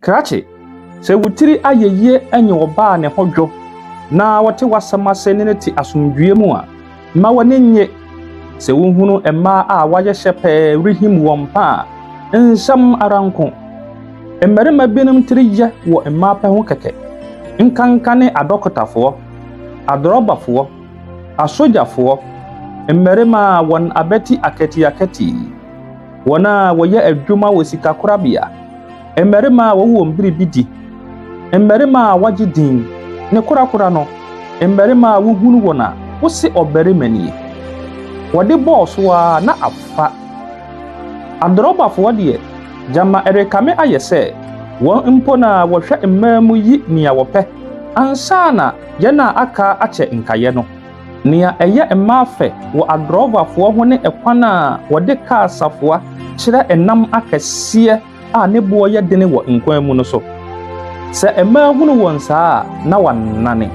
Krakye, sɛ wo tiri ayɛ yie nye ɔbaa a ne ho dwo na ɔte w'asɛm ase ne no te asomdwoeɛ mu a, mma w'ani nnye sɛ wohunu mmaa a wɔayɛ hyɛ pɛɛ rehim wɔn pɛ a. Nsɛm ara nko. Mmarima binom tiri yɛ wɔ mmaa pɛ ho kɛkɛ, nkanka ne adɔkotafoɔ, adrɔbafoɔ, asogyafoɔ, mmarima a wɔn abati akatiakati, wɔn a wɔyɛ adwuma wɔ sikakorabea, Mmarima a wɔwɔ wɔn bere bi di, mmarima a wɔagye din, ne korakora no, mmarima a wohunu wɔn a wose ɔbarima nie. Wɔde bɔɔ so ara na afa. Adorɔbafoɔ deɛ, gyama ɛrekame ayɛ sɛ wɔn mpo na wɔhwɛ mmaa mu yi nea wɔpɛ ansa na yɛn a aka akyɛ nkaeɛ no. Nea ɛyɛ mmaa fɛ wɔ adorɔbafoɔ ho ne ɛkwan a wɔde kaa safoa kyerɛ nam akɛseɛ a ne boɔ yɛ dene wɔ nkwan mu no so. Sɛ mmaa hunu wɔn saa a, na wɔanane.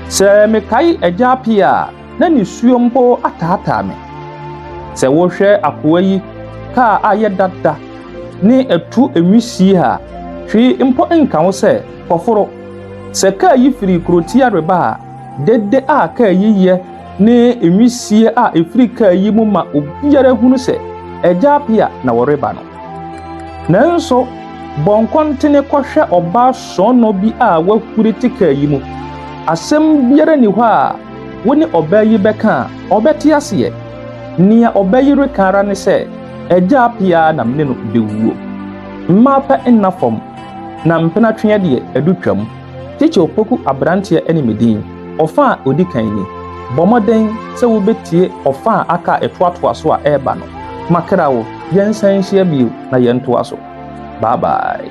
Sɛ mekae Agya Appiah a, na nisuo mpo ataataa me. Sɛ wohwɛ akoa yi kaa a yɛ dada ne atu nwisie a, hwee mpo nka wo sɛ kɔforo. Sɛ kaa yi firi kurotia reba a, dede a kaa yi yɛ ne nwisie a ɛfiri kaa yi mu ma obiara hunu sɛ Agya Apia na wɔreba no. Nanso, bɔ nkɔntene kɔhwɛ ɔbaa sɔɔnɔ bi a wahuri te kaa yi mu. Asɛm biara nni hɔ a wo ne ɔbaa yi bɛka a ɔbɛte aseɛ. Nea ɔbaa yi reka ara ne sɛ, Agya Apia na me ne no bɛwuo. Mmaa pɛ nna fam, na mpenatweɛ deɛ, adu twam. Kyekyɛ Opoku aberanteɛ ne me din. Ɔfã a edi kan ni, Bɔ mmɔden sɛ wubetie ɔfã a aka a ɛtoatoa so a ɛreba no. Makra wo, yɛnsan nhyia bio na yɛntoa so. Bye bye.